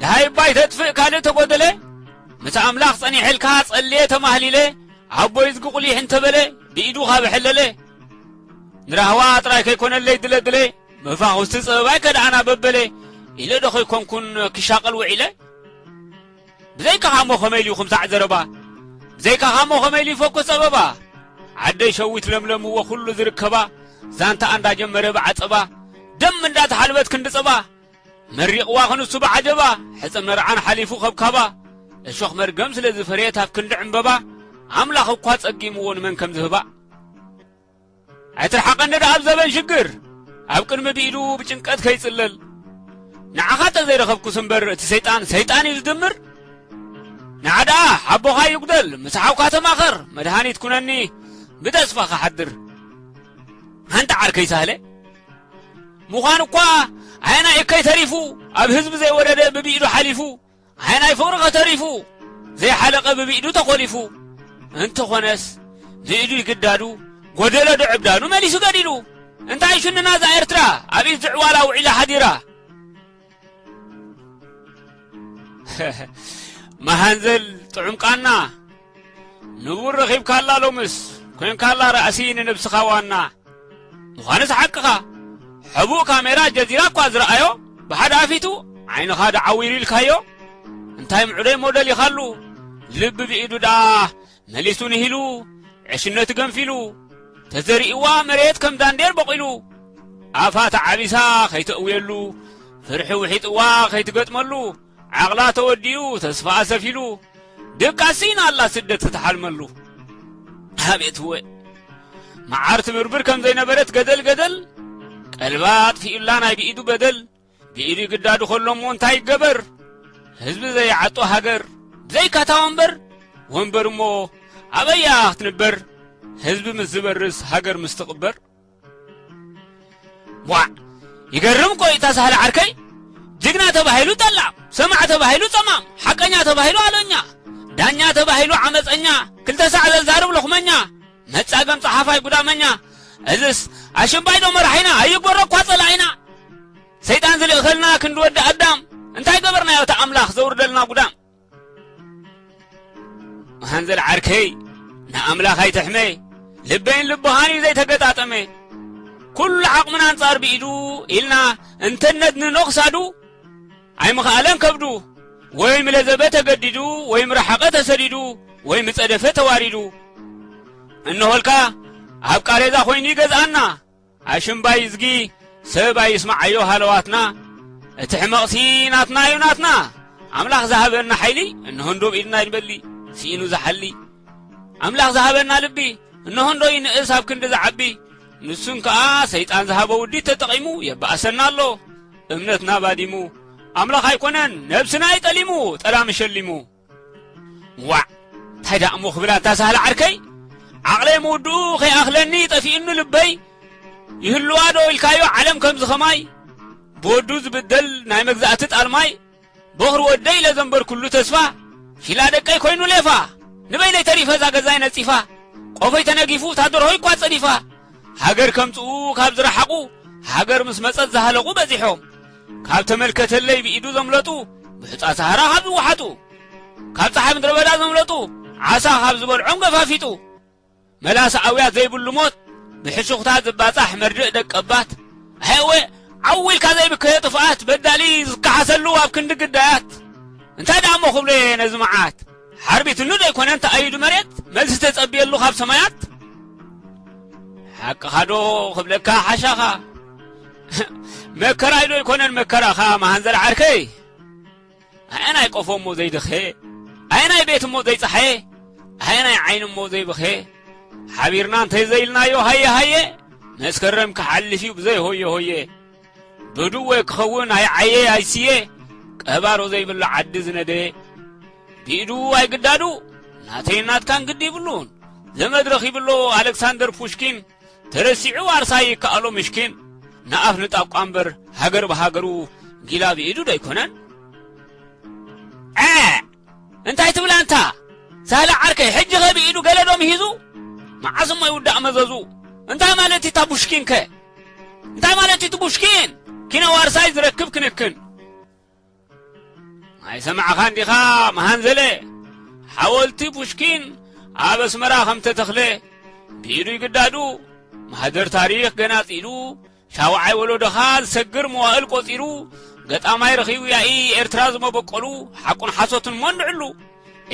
ድሃይ እባ ኣይተጥፍእ ካልእ ተጎደለ ምስ ኣምላኽ ጸኒሐልካ ጸልየ ተማህሊለ ኣቦይ ዝጊ ቁሊሕ እንተበለ ብኢዱ ካብ ሕለለ ንራህዋ ጥራይ ከይኮነለይ ድለ ድለ መፋኹስቲ ጸበባይ ከደኣና በበለ ኢለ ዶ ከይኮንኩን ክሻቐል ውዒለ ብዘይካኻ እሞ ከመይ ኢሉ ይኹምሳዕ ዘረባ ብዘይካኻ እሞ ከመይ ኢሉ ይፈኩስ ጸበባ ዓደይ ሸዊት ለምለምዎ ኩሉ ዝርከባ ዛንታ ኣንዳጀመረ ብዓጸባ ደም እንዳተሓልበት ክንዲ ጸባ መሪቕዋ ክንሱብ ዓጀባ ሕጸ መርዓን ሓሊፉ ከብካባ እሾኽ መርገም ስለ ዝፈረየት ኣብ ክንዲ ዕምበባ ኣምላኽ እኳ ጸጊምዎ ንመን ከም ዝህባ ኣይትርሓቐ እንደ ኣብ ዘበን ሽግር ኣብ ቅድሚ ብኢዱ ብጭንቀት ከይጽለል ንዓኻ እንተ ዘይረኸብኩስ እምበር እቲ ሰይጣን ሰይጣን እዩ ዝድምር ንዓድኣ ሓቦኻ ይጉደል ምስ ሓውካ ተማኸር መድሃኒት ኩነኒ ብተስፋ ክሓድር ሓንቲ ዓርከይ ሳህለ ምዃን እኳ ኣየናይ እከይ ተሪፉ ኣብ ህዝቢ ዘይወለደ ብብኢዱ ሓሊፉ ኣየናይ ፍቕሪ ከተሪፉ ዘይሓለቐ ብብኢዱ ተኾሊፉ እንተኾነስ ብኢዱ ይግዳዱ ጎደለ ዶ ዕብዳኑ መሊሱ ገዲሉ እንታይ ሽንና እዛ ኤርትራ ኣብ ኢድ ዝዕዋላ ውዒላ ሓዲራ መሃንዘል ጥዑም ቃና ንቡር ረኺብካላ ሎምስ ኮንካላ ራእሲ ንነብስኻ ዋና ምዃንስ ሓቅኻ ሕቡእ ካሜራ ጀዚራ እኳ ዝረኣዮ ብሓደ ኣፊቱ ዓይንኻ ደዓዊሩ ኢልካዮ እንታይ ምዕዶይ ሞደል ይኻሉ ልቢ ብኢዱ ደኣ መሊሱ ንሂሉ ዕሽነቱ ገንፊሉ ተዘሪእዋ መሬት ከም ዳንዴር በቒሉ ኣፋ ተዓቢሳ ከይተእውየሉ ፍርሒ ውሒጥዋ ከይትገጥመሉ ዓቕላ ተወዲኡ ተስፋ ኣሰፊሉ ድቃ ስኢና ኣላ ስደት ትተሓልመሉ ኣቤት እወ መዓር ትብርብር ከም ዘይነበረት ገደል ገደል ቀልባ ኣጥፊኡላ ናይ ብኢዱ በደል ብኢድ ይግዳዱ ከሎምዎ እንታይ ይገበር ህዝቢ ዘይዓጦ ሃገር ብዘይካታ ወንበር ወንበር እሞ ኣበያ ክትንበር ህዝቢ ምስ ዝበርስ ሃገር ምስ ትቕበር ቧዕ ይገርም እኮ እዩ ታሳህለ ዓርከይ ጅግና ተባሂሉ ጠላም ሰማዕ ተባሂሉ ጸማም ሓቀኛ ተባሂሉ ኣሎኛ ዳኛ ተባሂሉ ዓመፀኛ ክልተ ሳዕ ዘዛርብ ሎኽመኛ መጻገም ጸሓፋይ ጉዳመኛ እዝስ ኣሽባይዶ መራሒና ኣይጎረ እኳ ጸላኢና ሰይጣን ዝልእኸልና ክንዲ ወዲ ኣዳም እንታይ ገበርናዮ እቲ ኣምላኽ ዘውርደልና ጉዳም መሃንዘል ዓርከይ ንኣምላኽ ኣይትሕመ ልበይን ልብሃን እዩ ዘይተገጣጠመ ኩሉ ዓቕምና ኣንጻር ብኢዱ ኢልና እንተነድንኖ ክሳዱ ኣይምኸኣለን ከብዱ ወይ ምለዘበ ተገዲዱ ወይ ምረሓቐ ተሰዲዱ ወይ ምጸደፈ ተዋሪዱ እነሆልካ ኣብ ቃሬዛ ኾይኑ ይገዝኣና ኣሽምባይ እዝጊ ሰብ ኣይስማዓዮ ሃለዋትና እቲ ሕመቕሲ ናትና እዩ ናትና ኣምላኽ ዝሃበና ሓይሊ እንሆ እንዶ ኢድና ይበሊ ስኢኑ ዝሓሊ ኣምላኽ ዝሃበና ልቢ እንሆ እንዶ ይንእስ ኣብ ክንዲ ዝዓቢ ንሱን ከኣ ሰይጣን ዝሃቦ ውዲት ተጠቒሙ የባእሰና ኣሎ እምነትና ባዲሙ ኣምላኽ ኣይኮነን ነብስና እዩ ጠሊሙ ጠላሚ ሸሊሙ ዋዕ እንታይ ደኣ እሞ ክብላ እታ ሳህለ ዓርከይ ዓቕለይ ምውድኡ ከይኣኽለኒ ጠፊእኑ ልበይ ይህልዋ ዶ ኢልካዮ ዓለም ከምዚ ኸማይ ብወዱ ዝብደል ናይ መግዛእቲ ጣልማይ ቦኽሪ ወደይ ኢለ ዘንበርኩሉ ተስፋ ፊላ ደቀይ ኮይኑ ሌፋ ንበይነይ ተሪፈ እዛ ገዛይ ነጺፋ ቆፎይ ተነጊፉ እታ ደርሆይ እኳ ጸዲፋ ሃገር ከምጽኡ ካብ ዝረሓቑ ሃገር ምስ መጸት ዝሃለቑ በዚሖም ካብ ተመልከተለይ ብኢዱ ዘምለጡ ብሑጻ ሰሃራ ካብ ዝወሓጡ ካብ ፀሓይ ምድረ በዳ ዘምለጡ ዓሳ ካብ ዝበልዖም ገፋፊጡ መላስ ኣውያት ዘይብሉ ሞት ብሕሹኽታ ዝባጻሕ መርድእ ደቀባት ኣየወ ዓው ኢልካ ዘይብከዮ ጥፍኣት በዳሊ ዝከሓሰሉ ኣብ ክንዲ ግዳያት እንታይ ደኣ እሞ ክብሎ እየ ነዚ መዓት ሓርቢትሉ ዘይኮነን ተኣይዱ መሬት መልሲ ተጸብየሉ ካብ ሰማያት ሓቅኻ ዶ ክብለካ ሓሻኻ መከራይ ዶ ይኮነን መከራኻ መሃንዘር ዓርከይ ኣየናይ ቆፎ እሞ ዘይደኸየ ኣየናይ ቤት እሞ ዘይፀሓየ ኣየናይ ዓይኒ እሞ ዘይበኸየ ሓቢርና እንተዘይልናዮ ሃየ ሃየ መስከረም ክሓልፍ እዩ ብዘይ ሆየ ሆየ ብድወ ክኸውን ኣይዓየ ኣይስየ ቀባሮ ዘይብሉ ዓዲ ዝነደየ ብኢዱ ኣይግዳዱ ናተይ ናትካን ግዲ ይብሉን ዘመድረኽ ይብሎ ኣሌክሳንደር ፑሽኪን ተረሲዑ ዋርሳይ ይከኣሎ ምሽኪን ንኣፍ ንጣቋ እምበር ሃገር ብሃገሩ ጊላ ብኢዱ ዶ ኣይኮነን ዐዕ እንታይ ትብል ኣንታ ሳህለ ዓርከይ ሕጂ ኸ ብኢዱ ገለ ዶ ምሂዙ መዓስ እሞ ይውዳእ መዘዙ እንታይ ማለት እዩ እታ ቡሽኪን ከ እንታይ ማለት እዩ እቲ ቡሽኪን ኪነ ዋርሳይ ዝረክብ ክንክን ኣይሰማዕኻን ዲኻ መሃንዘለ ሓወልቲ ፑሽኪን ኣብ ኣስመራ ከም ተተኽለ ብኢዱ ይግዳዱ ማህደር ታሪኽ ገናጺሉ ሻውዓይ ወለዶኻ ዝሰግር መዋእል ቆጺሩ ገጣማይ ረኺቡ ያኢ ኤርትራ ዝመበቀሉ ሓቁን ሓሶትን መንዕሉ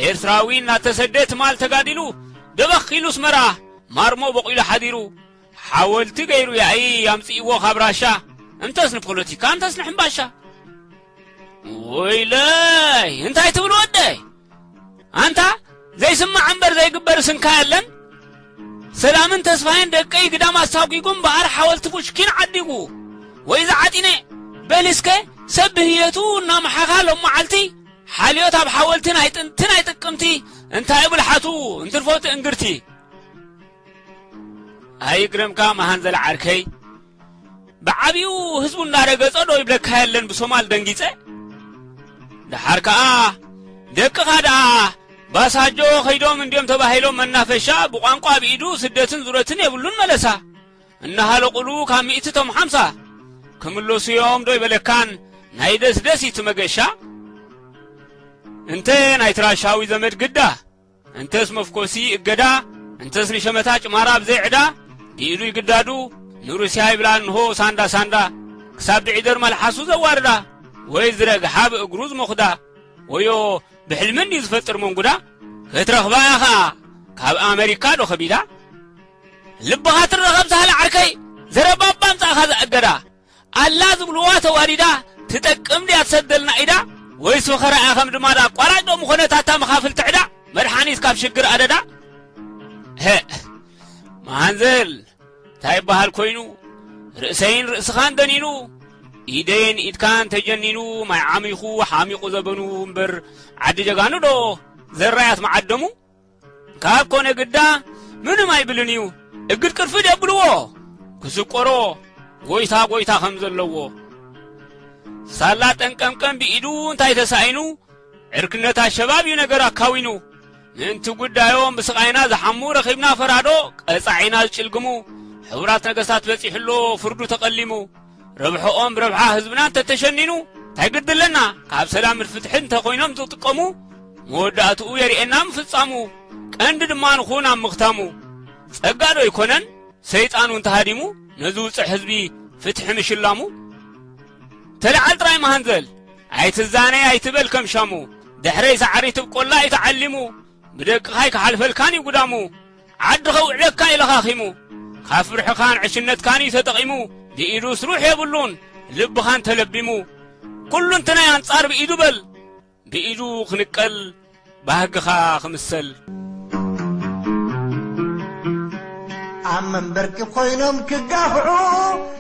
ኤርትራዊ እናተሰደ ትማል ተጋዲሉ ደበኽ ኢሉ ኣስመራ ማርሞ በቂሉ ሓዲሩ ሓወልቲ ገይሩ ያኢ ኣምጺእዎ ካብ ራሻ እንተስ ንፖለቲካ እንተስ ንሕምባሻ ወይለይ እንታይ ትብል ወደይ ኣንታ ዘይስማዕ እምበር ዘይግበር ስንካ የለን ሰላምን ተስፋይን ደቀይ ግዳም ኣስታጒጉ እምበኣር ሓወልቲ ፑሽኪን ዓዲጉ ወይ ዝዓጢነ በል እስከ ሰብ ብህየቱ እናመሓኻ ሎም መዓልቲ ሓልዮት ኣብ ሓወልቲ ናይ ጥንቲ ናይ ጥቅምቲ እንታይ ብልሓቱ እንትርፎቲ እንግርቲ ኣይግረምካ መሃን ዘለዓርከይ ብዓብኡ ህዝቡ እናረገጸ ዶ ይብለካ የለን ብሶማል ደንጊጸ ደሓር ከኣ ደቅኻ ደኣ ባሳጆ ኸይዶም እንዲዮም ተባሂሎም መናፈሻ ብቋንቋ ብኢዱ ስደትን ዙረትን የብሉን መለሳ እናሃለቑሉ ካብ ሚእቲ ቶም ሓምሳ ክምለሱ እዮም ዶ ይበለካን ናይ ደስደስ እቲ መገሻ እንተ ናይቲ ራሻዊ ዘመድ ግዳ እንተስ መፍኮሲ እገዳ እንተስ ንሸመታ ጭማራ ብዘይ ዕዳ ኢሉ ይግዳዱ ንሩስያ ይብላ እንሆ ሳንዳ ሳንዳ ክሳብ ብዒደር መልሓሱ ዘዋርዳ ወይ ዝረግሓ ብእግሩ ዝመኹዳ ወዮ ብሕልሚ እንዲ ዝፈጥር መንጉዳ ክትረኽባ እያ ኸኣ ካብ ኣመሪካ ዶ ከቢዳ ልብኻ ትረኸብ ሳህለ ዓርከይ ዘረባባ ምጻእኻ ዝኣገዳ ኣላ ዝብልዋ ተዋዲዳ ትጠቅም ድያ ትሰደልና ኢዳ ወይስ ፈኸራ'ያ ከም ልማዳ ኣቋራጭ ዶ ምኾነት ኣታ መኻፍልቲ ዕዳ መድሓኒት ካብ ሽግር ኣደዳ ህእ መሃንዘል እንታይ ይበሃል ኮይኑ ርእሰይን ርእስኻን ደኒኑ ኢደይን ኢድካን ተጀኒኑ ማይ ዓሚኹ ሓሚቑ ዘበኑ እምበር ዓዲ ጀጋኑ ዶ ዘራያት መዓደሙ ካብ ኮነ ግዳ ምንም ኣይብልን እዩ እግድ ቅርፍድ የብልዎ ክስቆሮ ጎይታ ጎይታ ከም ዘለዎ ሳላ ጠንቀምቀም ብኢዱ እንታይ ተሳኢኑ ዕርክነት ኣሸባብ እዩ ነገር ኣካዊኑ ምእንቲ ጉዳዮም ብስቓይና ዝሓሙ ረኺብና ፈራዶ ቀጻዒና ዝጭልግሙ ሕቡራት ነገስታት በጺሕሎ ፍርዱ ተቐሊሙ ረብሐኦም ብረብሓ ህዝብና እንተተሸኒኑ እንታይ ግዲ ኣለና ካብ ሰላምን ፍትሕን እንተኾይኖም ዝጥቀሙ መወዳእትኡ የርእየና ምፍጻሙ ቀንዲ ድማ ንኹን ኣብ ምኽታሙ ጸጋ ዶ ኣይኮነን ሰይጣኑ እንተሃዲሙ ነዚ ውፅዕ ህዝቢ ፍትሒ ምሽላሙ ተለዓል ጥራይ መሃንዘል ኣይትዛነ ኣይትበል ከም ሻሙ ድሕረይ ሳዕሪ ትብቆላ ኣይተዓሊሙ ብደቅኻይ ክሓልፈልካን ይጉዳሙ ዓዲ ከውዕለካ ኢሉ ኻኺሙ ካብ ፍርሕኻን ዕሽነትካን እዩ ተጠቒሙ ብኢዱ ስሩሕ የብሉን ልብኻን ተለቢሙ ኩሉ እንትናይ ኣንጻር ብኢዱ በል ብኢዱ ክንቀል ባህግኻ ክምሰል ኣብ መንበርኪ ኮይኖም ክጋፍዑ